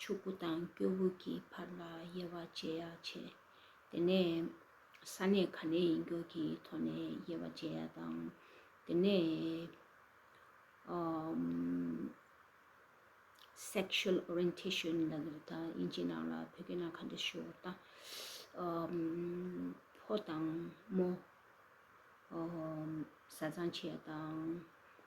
ཕྱུག་པོ་དང་སྐྱོ་བོ་གྱི་བར་ལ་དབྱེ་བ་འབྱེད་ཡ་བྱེད། དེ་ནས་ས་གནས་ག་ནས་ཡིན་སྐྱོར་གྱི་ཐོག་ནས་དབྱེ་བ་འབྱེད་ཡ་དང། དེ་ནས། Sexual Orientation ལ་ལུགས་ད་དབྱིན་ཇི་ནང་ལ་བོད་སྐད་ནང་ག་འདྲ་ཞུ་འོ་ད། ཕོ་དང་མོ། བཟའ་ཚང་བྱེད་ཡ་དང།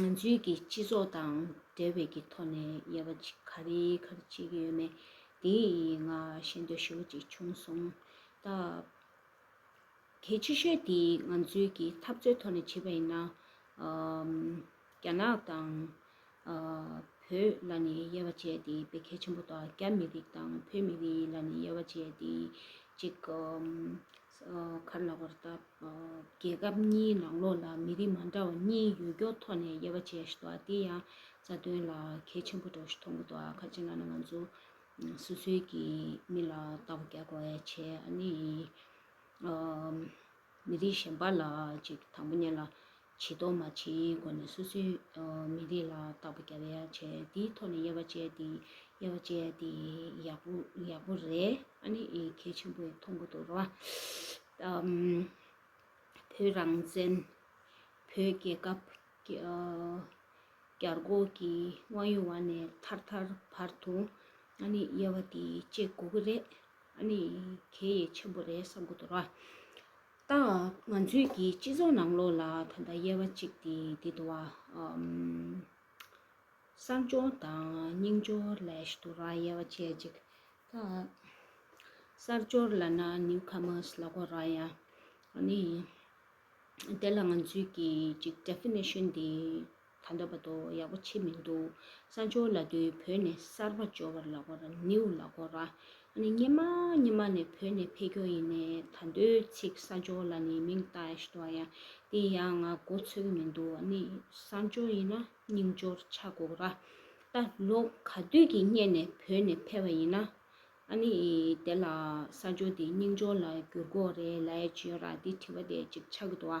ང་ཚོའི་གི་སྤྱི་ཚོགས་དང་འབྲེལ་བའི་གི་ཐོག་ནས་ཡལ་བ་ཅིག་ག་རེ་ག་རེ་བྱེད་ཀྱི་ཡོད་ནས་དེ་ང་ཤེས་འདོད་ཤོར་བ་ཅིག་བྱུང་སོང། ད་གལ་ཆེ་ཤོས་དེ་ང་ཚོའི་གི་འཐབ་རྩོད་ཐོག་ནས་བྱེད་པ་ཡིན་ན། རྒྱ་ནག་དང་བོད་ལ་ནི་ཡལ་བ་བྱས་ཏེ་བེད་གལ་ཆེན་པོ་དང་རྒྱ་མི་རིགས་དང་བོད་མི་རིགས་ལ་ནི་ཡལ་བ་བྱས་ཏེ་ཅིག་ཁར་ལ་བར་བཏབ། རྒྱལ་ཁབ་གཉིས་ནང་ལོགས་ལ་མི་རིགས་མ་འདྲ་བ་གཉིས་ཡུལ་སྐྱོར་ཐོག་ནས་དབྱེ་བ་འབྱེད་བཞིན་འདུག་ཨ་དེ་ཡང་རྩ་དོན་ལ་གལ་ཆེན་པོ་འགྲོ་བཞིན་མཐོང་གི་འདུག་ཨ་ཁ་ཅིག་ལ་ནི་ང་ཚོ་སོ་སོའི་གི་མི་ལ་ལྟ་བ་ག་གོ་བས་བྱས་ཨ་ནི་མི་རིགས་གཞན་པ་ལ་ཅིག་དང་པོ་ཉན་ལ། བྱེད་དོ་མ་བྱེད་ཡིན་སྐོར་ནས་སོ་སོའི་མི་རིགས་ལ་བརྟག་པ་རྒྱ་བལ་ཡག་བྱས་དེའི་ཐོག་ནས་དབྱེ་བ་བྱས་ཏེ་དབྱེ་བ་བྱས་ཏེ་ཡག་པོ་ཡག་པོ་རེད་ཨ་ནི་གལ་ཆེན་པོ་མཐོང་གི་འདུག་ར་བ། བོད་རང་བཙན། བོད་རྒྱལ་ཁབ། བསྐྱར་འགོག་གི་དབང་ཡོད་བ་ནས་ཐར་ཐར་བར་དུ་ཨ་ནི་དབྱེ་བ་དེ་བཅད་དགོས་ཀྱི་རེད་ཨ་ནི་གལ་ཡེ་ཆེན་པོ་རེད་བསམ་གི་འདུག་ར་བ། ཏང་ང་ཚོས་ཀྱི་སྤྱི་ཚོགས་ནང་ལོགས་ལ་ད་ལྟ་དབྱེ་བ་གཅིག་སྟེ་དེ་དུ་བ། གསར་འབྱོར་དང་རྙིང་འབྱོར་ལས་དུ་བ་དབྱེ་བ་ཆེ་གཅིག་གསར་འབྱོར་ལ་ན་ནིའུ་ཁ་མོས་ལ་གོ་ར་ཡ་ནི་དེ་ལ་ང་ཚོས་ཀྱི་ཅིག Definition དེ། ད་འདོད་པ་དོག་ཡག་པོ་ཆེ་མི་འདུག་གསར་འབྱོར་ལ་དོན་བོད་ནས་གསར་པ་འབྱོར་བར་ལག་པར་ནེའུ་ལག་སྒོ་ར་ཨ་ནི་སྙེ་མ་སྙེ་མ་ནས་བོད་ནས་ཕེ་སྐྱོ་ཡིན་ནས་ད་འདོད་ཚིག་གསར་འབྱོར་ལ་ནི་མིང་བཏགས་ཨེ་ཤི་ཏོ་ཡ་དེ་ཡ་ང་མགོ་འཚོས་གི་མི་འདུག་ཨ་ནི་གསར་འབྱོར་ཡིན་ན་རྙིང་འབྱོར་ཆ་སྒོ་ར་ད་ལོ་ག་དུས་ཀྱི་སྙེ་ནས་བོད་ནས་ཕེ་བ་ཡིན་ན་ཨ་ནི་དེ་ལ་གསར་འབྱོར་དེ་རྙིང་འབྱོར་ལ་འགྱུར་སྒོ་རེད་ལའེ་བྱོས་ར་དེ་དྲི་བ་དེ་ཅིག་ཆག་གི་འདུག་ཨ་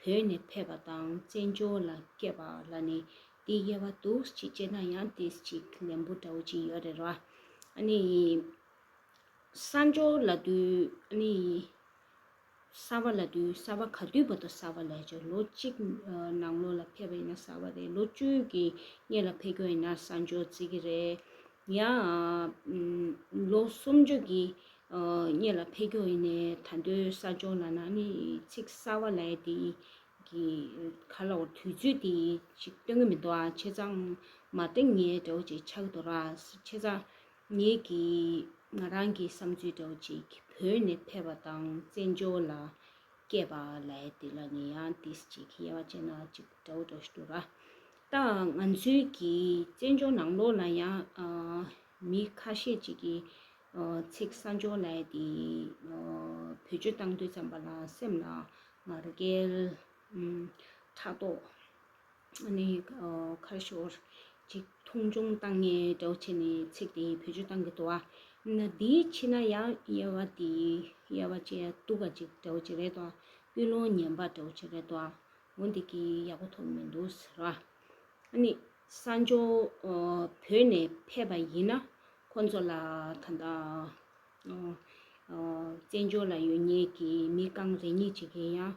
བོད་ནས་ཕེབས་པ་དང་བཙན་བྱོལ་ལ་སྐྱེས་པ་ལ་ནི་དེའི་དབྱེ་བ་འདུག་ཅིག་བྱས་ན་ཡང་དེ་ཅིག་ལན་པོ་འདྲ་བོ་ཅིག་ཡོད་རེད་ར། ནི། གསར་འབྱོར་ལ་དུས་ནི། གསར་བ་ལ་དུས་གསར་བ་ག་དུས་བར་དུ་གསར་བ་ལས་ཀྱི་ལོ་གཅིག་ནང་ལོ་ལ་ཕེབས་པ་ཡིན་ན་གསར་བ་རེད་ལོ་བཅུ་གི་སྔས་ལ་ཕེབས་ཀྱོ་ཡིན་ན་གསར་འབྱོར་རྩིས་ཀྱི་རེད། ཡང། ལོ་སུམ་ཅུ་གྱི་སྙེ་ལ་ཕེ་ཁྱོ་ཡིན་ནའི་ད་འདོད་ས་སྦྱོང་ལ་ན་ནི་ཚིག་གསར་བ་ལའེ་དེ་གི་ག་ལ་བོར་དུས་ཚོད་དེ་ཞིག་སྟོན་གི་མི་འདུག་ཨ་ཆེ་ཚང་མ་ཏིང་ངེ་འདྲ་བོ་ཅིག་ཆགས་འདུག་ར་ཆེ་ཚང་ངེ་གི་ང་རང་གི་བསམ་ཚུལ་འདྲ་བོ་ཅིག་བོད་ནས་ཕེ་བ་དང་བཙན་བྱོལ་ལ་སྐྱེས་པ་ལའེ་དེ་ལ་ནི་ཡང་དེ་ཅིག་གི་དབྱེ་བ་ཅན་ན་ཅིག་འདྲ་བོ་འགྲོ་ཞིག་འདུག་ར་ལྟའང་ང་ཚོའི་གི་བཙན་བྱོལ་ནང་ལོགས་ལ་ཡང་མི་ཁ་ཤས་ཅིག་གི་ཚིག་ས་འཇོག་ལས་དེ་བེད་སྤྱོད་བཏང་འདོད་ཙམ་པ་ལ་སེམས་ལ་ངར་སྐད་ཕྲག་དོག་ནི་ཁར་ཤོར་ཅིག་མཐོང་ཆུང་བཏང་ངེས་འདྲའོ་བྱས་ནས་ཚིག་དེ་བེད་སྤྱོད་བཏང་གི་འདུག་ཨ་ན་དེ་ཕྱི་ན་ཡང་དབྱེ་བ་དེ་དབྱེ་བ་ཅན་སྟུག་པ་ཅིག་འདྲའོ་བྱས་རེད་དོ་ཀུན་སློང་ངན་པ་འདྲའོ་བྱས་རེད་དོ་ངོ་འདི་གི་ཡག་པོ་ཐོབ་མི་འདུག་ཟེར་བ་ཨ་ནི་ས་མཆོག་བོད་ནས་ཕེབས་པ་ཡིན་ན་ཁོ་ཚོ་ལ་ད་ལྟ་བཙན་བྱོལ་ལ་ཡོད་ཉེས་ཀྱི་མི་རྐང་རེ་གཉིས་ཅིག་ཡིན་ཡང་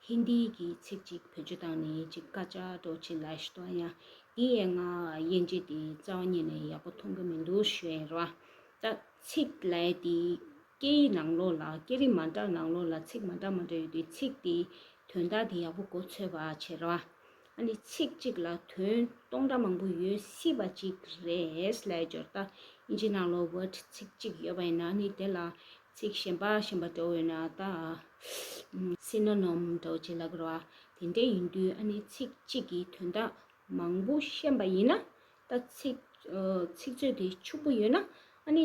ཧིན་དི་གི་ཚིག་ཅིག་བོད་ཆུ་དང་ནས་ཅིག་དཀར་ཆག་སྒྲོག་ཆེ་ལ་ཤི་ཏོ་ཡང་དེ་ཡན་ང་དབྱེ་འབྱེད་དེ་རྩ་བ་ཉིད་ནས་ཡག་པོ་མཐོང་གི་མི་འདུག་ཞེས་བ་ད་ཚིག་ལས་དེ། སྐད་ཡིག་ནང་ལོགས་ལ་སྐད་རིགས་མ་འདྲ་ནང་ལོགས་ལ་ཚིག་མ་འདྲ་མ་འདྲ་ཡོད་དུས་ཚིག་དེའི་དོན་དག་དེ་ཡག་པོ་གོ་ཚོད་པ་བྱེད་རོགས་ཨ། ཨ་ནི་ཚིག་གཅིག་ལ་དོན་སྟོང་འདྲ་མང་པོ་ཡོད་སྲིད་པ་ཅིག་རེད། ལས་སྦྱོར་ལྟ་ཨིན་ཇི་ནང་ལོགས word ཚིག་གཅིག་ཡོད་པ་ཡིན་ན་ཨ་ནི་དེ་ལ་ཚིག་གཞན་པ་གཞན་པ་འདྲ་བོ་ཡོད་ན་ལྟ་ཨ། Synonym འདྲ་བོ་བྱེད་ལ་དགོས་རོགས་ཨ། དེ་འདྲ་ཡིན་དུས་ཨ་ནི་ཚིག་གཅིག་གི་དོན་དག་མང་པོ་ཤེས་པ་ཡིན་ན་ལྟ། ཚིག་ཚིག་ཚོད་དེ་ཕྱུག་པོ་ཡོད་ན་ཨ་ནི།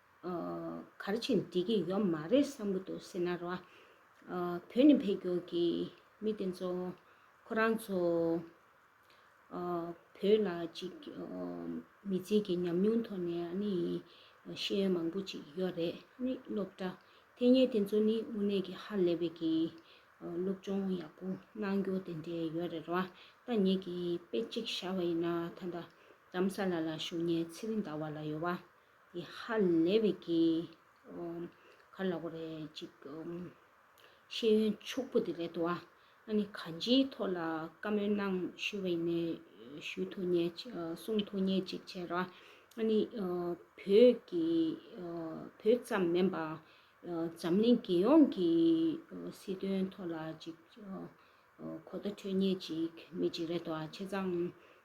གར་བྱེད་འགྲིག་གི་ཡོད་མ་རེད་བསམ་གྱི་འདུག་སེ་ན་ར། བོད་ནས་འཕེལ་འགྱུར་གྱི་མི་དེ་ཚོ་ཁོ་རང་ཚོ་བོད་ལ་ཅིག་མི་རྫིག་གི་ཉམས་མྱོང་ཐོག་ནས་ཨ་ནི་ཤེས་ཡོན་མང་པོ་ཅིག་ཡོད་རེད་ཨ་ནི་སློབ་གྲྭ་ཐེ་ཉེ་དེ་ཚོ་ནི་དངོས་གནས་ཀྱི་ཧ་ལས་པའི་གི་སློབ་སྦྱོང་ཡག་པོ་གནང་རྒྱུ་དེ་འདྲས་ཡོད་རེད་ར། ད་ངེད་ཀྱི་དཔེ་ཅིག་བཞག་པ་ཡིན་ན་ད་ལྟ་རམ་ས་ལ་ལ་བཞུགས་ཉེ་ཚེ་རི་ཟླ་བ་ལ་ཡོད་པ། ཡེ་ཧ་ལེ་བྷི་ཀི། གར་ལ་གོ་རེ་ཅིག། ཤེས་ཡོན་ཕྱུག་པོ་དེ་རེད་དོ། ཨ་ནི་གང་ཅིའི་ཐོག་ལ་བཀའ་མོལ་གནང་ཞུ་བའི་ནས་ཞུ་ཐུག་ཉེ་གསུང་ཐུག་ཉེ་ཅིག་བྱས་ར། ཨ་ནི་བོད་ཀྱི་བོད་ཙམ་མེན་པ་འཛམ་གླིང་རྒྱལ་ཡོངས་ཀྱི་སྲིད་དོན་ཐོག་ལ་ཅིག་གོ་བརྡ་འཕྲོད་ཉེ་ཅིག་མེད་ཅིག་རེད་དོ། ཆེ་ཚང་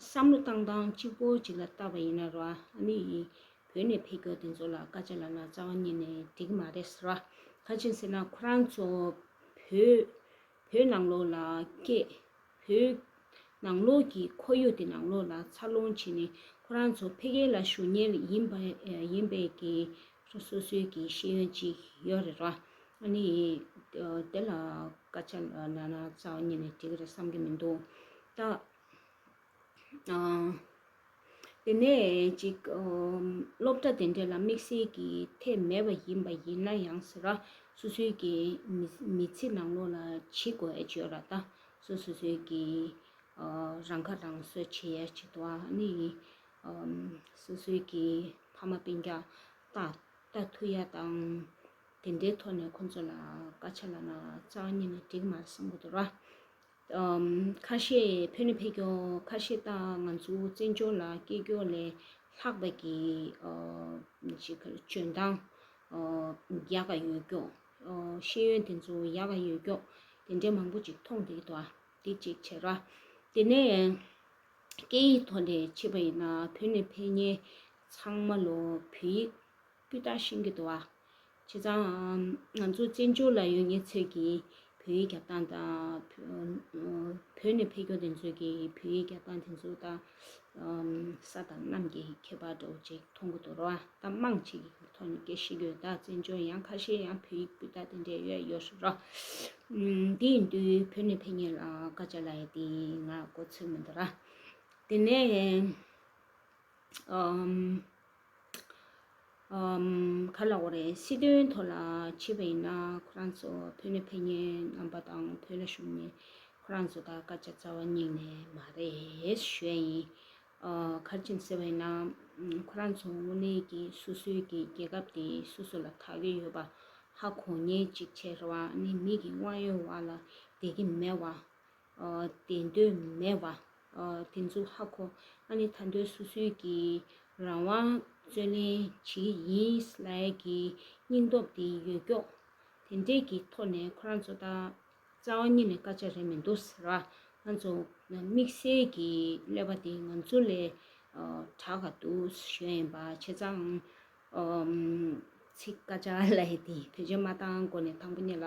བསམ་བློ་བཏང་སྟངས་གཅིག་པོ་གཅིག་ལ་བལྟ་བ་ཡིན་ན་རོ་ཨ་ནི་ཡིན། བོད་ནས་ཕེབས་སྐྱོར་དེ་ཚོ་ལ་བཀའ་ཆད་ལབ་ན་རྩ་བ་ཉིད་ནས་འགྲིག་གི་མ་རེད་ཟེར། ཁ་ཅིག་ཟེར་ན་ཁོ་རང་ཚོ་བོད། བོད་ནང་ལོགས་ལ་སྐད། བོད། ནང་ལོགས་ཀྱི་ཁོར་ཡུག་དེ་ནང་ལོགས་ལ་འཚར་ལོངས་བྱས་ནས་ཁོ་རང་ཚོ་ཕེབས་མཁན་ལ་ཞུ་ཉེན་ཡིན་པ་ཡིན་པས་ཀྱི་སོ་སོ་སོའི་ཀྱི་ཤེས་ཡོན་ཅིག་ཡོད་རེད་རོ་ཨ་ནི་ཡིན། དེ་ལ་བཀའ་ཆད་ལབ་ན་རྩ་བ་ཉིད་ནས་འགྲིག་གི་རེད་བསམ་གྱི་མི་འདུག་ད། དེ་ནས་ཅིག། སློབ་གྲྭ་དེ་འདྲ་ལ་དམིགས་བསལ་གྱི་ཐད་མེད་པ་ཡིན་པ་ཡིན་ན་ཡང་ཟེར། སོ་སོའི་གི་མི་ཚེ་ནང་ལོགས་ལ་ཇི་དགོས་བརྗོད་ར་ད་སོ་སོ་སོའི་གི། རང་ཁ་རང་གསོ་བྱེད་ཡ་བྱེད་དོ་ཨ་ནི། སོ་སོའི་གི་ཕ་མ་སྤེན་རྒྱ་ལྟ་ཐུ་ཡ་དང། དེ་འདྲའི་ཐོག་ནས་ཁོང་ཚོ་ལ་ཀ་ཆ་ལ་ན་ཙག་གཉིས་ནས་འགྲིག་མ་སོང་གི་འདུག་ར། ཁ་ཤས་བོད་ནས་ཕེབས་མཁན་ཁ་ཤས་ད་ང་ཚོའི་བཙན་བྱོལ་ལ་སྐྱེས་སྐྱོ་ལས་ལྷག་པ་གི་འཇོན་ཐང་ཡག་ག་ཡོད་སྐྱོགས་ཤེས་ཡོན་དེ་ཚོ་ཡག་ག་ཡོད་སྐྱོགས་དེ་འདྲ་མང་པོ་ཅིག་མཐོང་དེ་ཐོག་དེ་གཅིག་བྱས་ར་དེ་ནས་སྐད་ཡིག་ཐོག་ནས་བྱས་པ་ཡིན་ན་བོད་ནས་ཕེབས་མཁན་ཚང་མ་ལོ་བོད་ཡིག། སྤུས་དག་ཤིང་གི་དོ་བ། བྱས་ཙང་ང་ཚོ་བཙན་བྱོལ་ལ་ཡོད་ཉེ་ཚོད་ཀྱིས་བོད་ཡིག་རྒྱག་སྟངས་དང། བོད་ནས་ཕེབས་མཁན་དེ་ཚོས་ཀྱིས་བོད་ཡིག་རྒྱག་སྟངས་དེ་ཚོ་དང། ས་དང་གནམ་གྱི་ཁྱད་པར་འདྲ་བོ་ཅིག་མཐོང་གི་འདུག་རོ། གཏམ་མང་ཅིག་ཐོག་ནས་སྐད་ཤེས་ཡོད་དག་བཙན་བྱོལ་ཡང་ཁ་ཤས་ཡང་བོད་ཡིག་སྤུས་དག་དེ་འདྲ་ཡོད་ཡོད་རེད་རོ། དེ་ཡིན་དུས་བོད་ནས་ཕེབས་མཁན་ལ་བཀའ་བཅག་ལ་ཡ་དེ་ང་གོ་ཚོད་མི་འདུག་ར། དེ་ནས། ག་ལ་འོ་རེད་སྲིད་དོན་ཐོག་ལ་ཕྱི་པ་ཡིན་ན་ཁོ་རང་ཚོ་བོད་ནས་ཕེབས་ཉེན་རྣམ་པ་དང་བོད་ལ་བཞུགས་ནས་ཁོ་རང་ཚོ་དང་དཀར་ཆ་རྩ་བ་སྙིང་ནས་མ་རེད་ཞོད་ཡིན། གར་ཆེན་ཟེར་བ་ཡིན་ན་ཁོ་རང་ཚོ་དངོས་གནས་ཀྱི་སོ་སོའི་ཀྱི་རྒྱལ་ཁབ་དེ་སོ་སོ་ལ་ཐག་གིས་ཡོད་པ་ཧ་གོ་ཉེན་ཅིག་ཆེ་རེ་བ་ནི་མི་གི་དབང་ཡོད་བ་ལ་དེ་གི་མེད་བ། དེ་འདོད་མེད་བ། དེ་འཛུགས་ཧ་གོ། ཨ་ནི་ད་འདོད་སུ་སུའི་གི། རང་དབང་རྩོད་ལེན་ཇི་ཡིན་ལ་ཡ་གི། སྙིང་སྟོབས་དེ་ཡོད་སྐྱོགས། དེ་འདྲས་གི་ཐོག་ནས་ཁོ་རང་ཚོ་ད། རྩ་བ་ཉིད་ནས་སྐར་ཆ་རེད་མི་འདུག་ཟེར་བ། ང་ཚོ་དམིགས་བསལ་གི་ཀླད་པ་དེ་ང་ཚོ་ལས། དྲག་ག་འདུག་གཞོན་ཡིན་པ་ཆེ་ཚང། ཚིག་སྐར་ཆ་ལ་ཡ་དེ་བོད་ཆས་མ་བཏང་གོ་ནས་དང་པོ་གཉིས་ལ།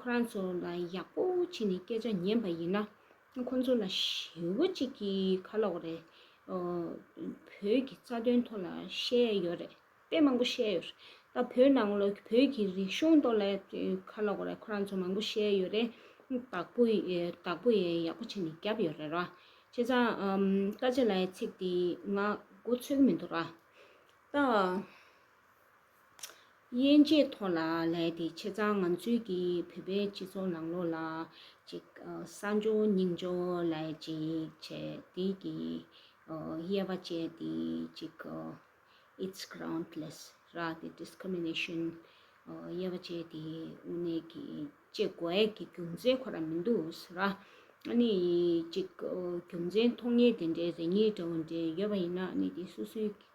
ཁོ་རང་ཚོ་ལ་ཡག་པོ་ཕྱིན་ནས་སྐད་ཆ་ཉན་པ་ཡིན་ན་ཁོང་ཚོ་ལ་ཞེ་བོ་གཅིག་གི་ཁ་ལོག་རེད། བོད་ཀྱི་རྩ་དོན་ཐོག་ལ་བཤད་ཡོད་རེད་དཔེ་མང་པོ་བཤད་ཡོད་རེད། ད་བོད་ནང་ལོ་བོད་ཀྱི་རིག་གཞུང་ཐོག་ལ་ཁ་ལོག་རེད་ཁོ་རང་ཚོ་མང་པོ་བཤད་ཡོད་རེད། དག་པོ་དག་པོ་ཡེ་ཡག་པོ་ཕྱིན་ནས་རྒྱབ་ཡོད་རེད་ར། བྱས་ཙང་བཀའ་ཆེ་ལའི་ཚིག་དེ་ང་མགོ་ཚོས་གི་མི་འདུག་ར། ད། དབྱེ་འབྱེད་ཐོག་ལ་ལས་དེ་ཆེ་ཚང་ང་ཚོས་ཀྱི་བོད་པའི་སྤྱི་ཚོགས་ནང་ལོགས་ལ་ཅིག་གསར་འབྱོར་རྙིང་འབྱོར་ལ་ཅིག་བྱས་དེ་ཀྱི་དབྱེ་བ་བཅད་དེ་ཅིག It's groundless ར་དེ Discrimination དབྱེ་བ་བཅད་དེ་དབུ་ནས་ཀྱི་ཅེས་དགོས་ཡས་ཀྱི་རྒྱུ་མཚན་ཁོ་ར་མི་འདུག་ར། ནི་ཅིག་རྒྱུ་མཚན་མཐོང་ངེས་དེ་འདྲའི་རེ་སྙེག་འདྲ་བོ་འདྲ་ཡོད་པ་ཡིན་ན་ནི་དེ་སུ་སུའི